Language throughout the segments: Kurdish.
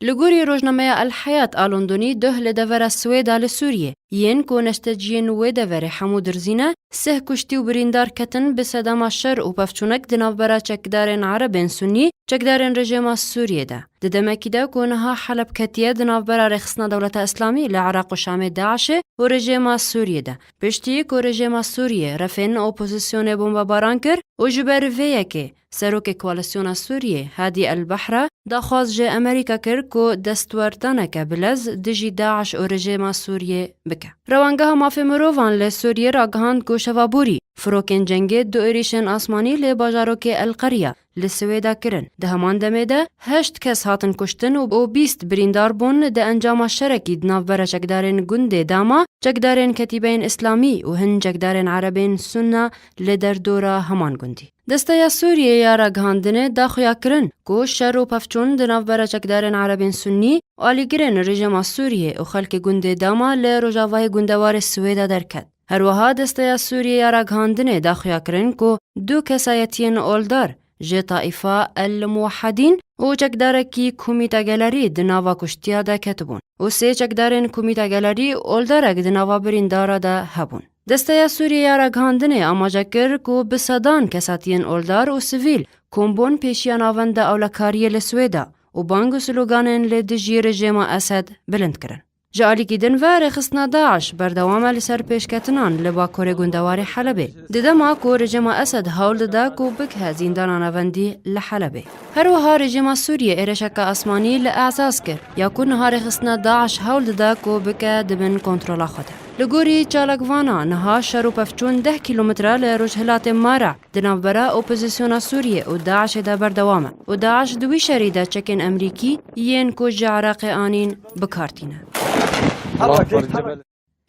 Li gorî rojnameya El Heyat a Londonî duh li devera Swêda li Sûriyê yên ku neşteciyên wê deverê hemû dirzî ne, sih kuştî û birîndar ketin bi sedema şer û pevçûnek di navbera çekdarên erebên sunnî çekdarên rejêma Sûriyê de. Di demekî de ku niha Heleb ketiye di navbera Rêxistina Dewleta Îslamî li Iraq û Şamê DAIŞ'ê û rejêma Sûriyê de. Piştî ku rejêma Sûriyê refên opozisyonê bombebaran kir û ji ber vê yekê, Serokê Koalîsyona Sûriyê Hadî El Bahra daxwaz ji Amerîka kir ku destwerdaneke bilez dijî DAIŞ û rejîma Sûriyê bike. Rewangeha Mafê Mirovan li Sûriyê ragihand ku Şeva Borî firokên cengê du êrîşên asmanî li bajarokê El Qerya li Siwêda kirin. Di heman demê de heşt kes hatin kuştin û bîst birîndar bûn di encama şerekî di navber a çekdarên gundê Dama, çekdarên Ketîbeyên Îslamî û hin çekdarên Erebên Sunna li derdora heman gundî. Desteya Sûriyê ya Ragihandinê da xuya kirin ku şer û pevçûn di navbera çekdarên erebên sunnî, alîgirên rejîma Sûriyê û xelkê gundê Dama li rojavayê gundewarê Siwêda derket. Her wiha Desteya Sûriyê ya Ragihandinê da xuya kirin ku du kesayetiyên oldar ji Taîfa El Muwehedîn û çekdarekî Komîta Gelerî di nava kuştiya de ketibûn û sê çekdarên Komîta Gelerî oldarek di nava birîndara de hebûn. Desteya Sûriyê ya Ragihandinê amaje kir ku bi sedan kesatiyên oldar û sivîl kom bon pêşiya navenda ewlekariyê li Swêda û bang û sloganên li dijî rejêma Esed bilind kirin. Ji alîkî din ve rêxistina DAIŞ berdewam e li ser pêşketinan li bakurê gundewarê Helebê, di dema ku rejêma Esed hewl dide ku bigihe zîndana navendî li Helebê. Her wiha rejêma Sûriyê êrişeke asmanî li Ezaz kir, ya ku niha rêxistina DAIŞ hewl dide ku bike di bin kontrola xwe de. Li gorî çalakvana niha şer û pevçûn deh kîlometre li rojhilatê Mara di navbera opozîsyona Sûriyê û DAIŞ'ê de berdewam e û DAIŞ di wî şerî de çekên Emrîkî yên ku ji Iraqê anîn bi kar tîne.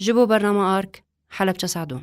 Ji bo bernama ark, Helepçe Sadûn.